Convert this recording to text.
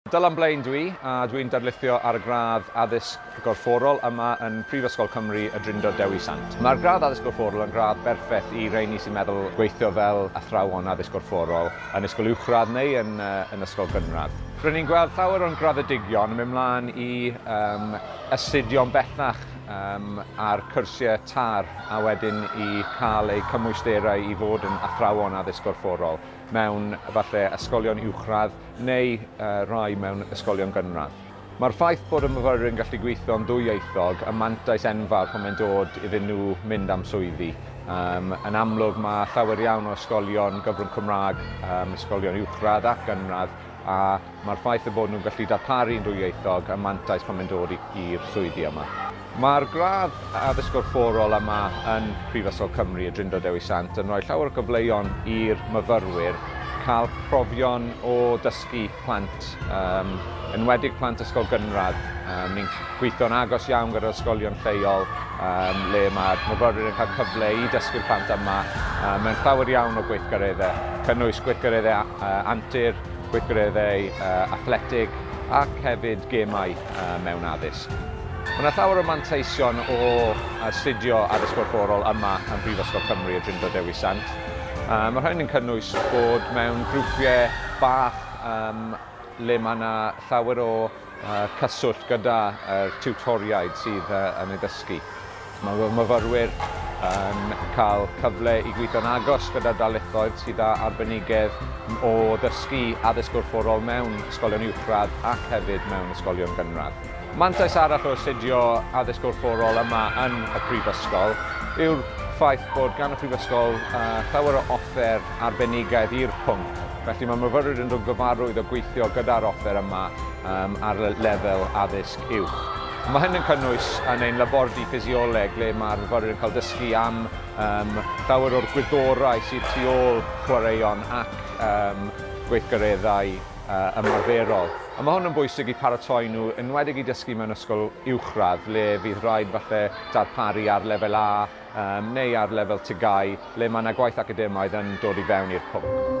Dal am blaen dwi, a dwi'n darlithio ar gradd Addysg Gorfforol yma yn Prifysgol Cymru Y Drindod Dewi Sant. Mae'r gradd Addysg Gorfforol yn gradd berffaith i rheini sy'n meddwl gweithio fel athrawon addysg gorfforol yn ysgol uwchradd neu yn ysgol gynradd. R'yn ni'n gweld llawer o'n graddedigion yn mynd mlaen i astudio'n bellach ar cyrsiau TARE a wedyn i cael eu cymwysterau i fod yn athrawon addysg gorfforol mewn efallai ysgolion uwchradd, neu rai mewn ysgolion gynradd. Mae'r ffaith bod y myfyrwyr yn gallu gweithio'n ddwyieithog yn mantais enfawr pan mae'n dod iddyn nhw mynd am swyddi. Um, yn amlwg, mae llawer iawn o ysgolion gyfrwng Cymraeg, um, ysgolion uwchradd ac gynradd, a mae'r ffaith y bod nhw'n gallu darparu'n ddwyieithog yn mantais pan mae'n dod i'r swyddi yma. Mae'r gradd Addysg Gorfforol yma yn Prifysgol Cymru, y Drindod Dewi Sant, yn rhoi llawer o gyfleon i'r myfyrwyr cael profion o dysgu plant, um, enwedig plant ysgol gynradd. Um, ni'n gweithio'n agos iawn gyda'r ysgolion lleol, um, le mae'r myfyrwyr yn cael cyfle i dysgu'r plant yma um, mewn llawer iawn o gweithgareddau, cynnwys gweithgareddau uh, antur, gweithgareddau uh, athletig ac hefyd gemau uh, mewn addysg. Mae 'na llawer o manteision o astudio Addysg Gorfforol yma ym Mhrifysgol Cymru y Drindod Dewi Sant. Mae rhain yn cynnwys bod mewn grwpiau bach um, le mae yna llawer o uh, cyswllt gyda'r tiwtoriaid sydd uh, yn ei ddysgu. Mae fy myfyrwyr yn cael cyfle i gweithio'n agos gyda darlithoedd sydd â arbenigedd o ddysgu addysg gorfforol mewn ysgolion uwchradd ac hefyd mewn ysgolion gynradd. Mantais arall o astudio addysg gorfforol yma yn y Prifysgol yw'r ffaith bod gan y Prifysgol llawer o offer arbenigedd i'r pwnc, felly mae myfyrwyr yn dod yn gyfarwydd o gweithio gyda'r offer yma ar lefel addysg uwch. Mae hyn yn cynnwys yn ein labordy ffisioleg le mae'r myfyrwyr yn cael dysgu am um, llawer o'r gwyddorau sydd tu ôl chwaraeon ac um, gweithgareddau uh, ymarferol. A mae hwn yn bwysig i paratoi nhw, enwedig i dysgu mewn ysgol uwchradd, le fydd rhaid falle darparu ar lefel A um, neu ar lefel tygau, le mae yna gwaith academaidd yn dod i fewn i'r pwnc.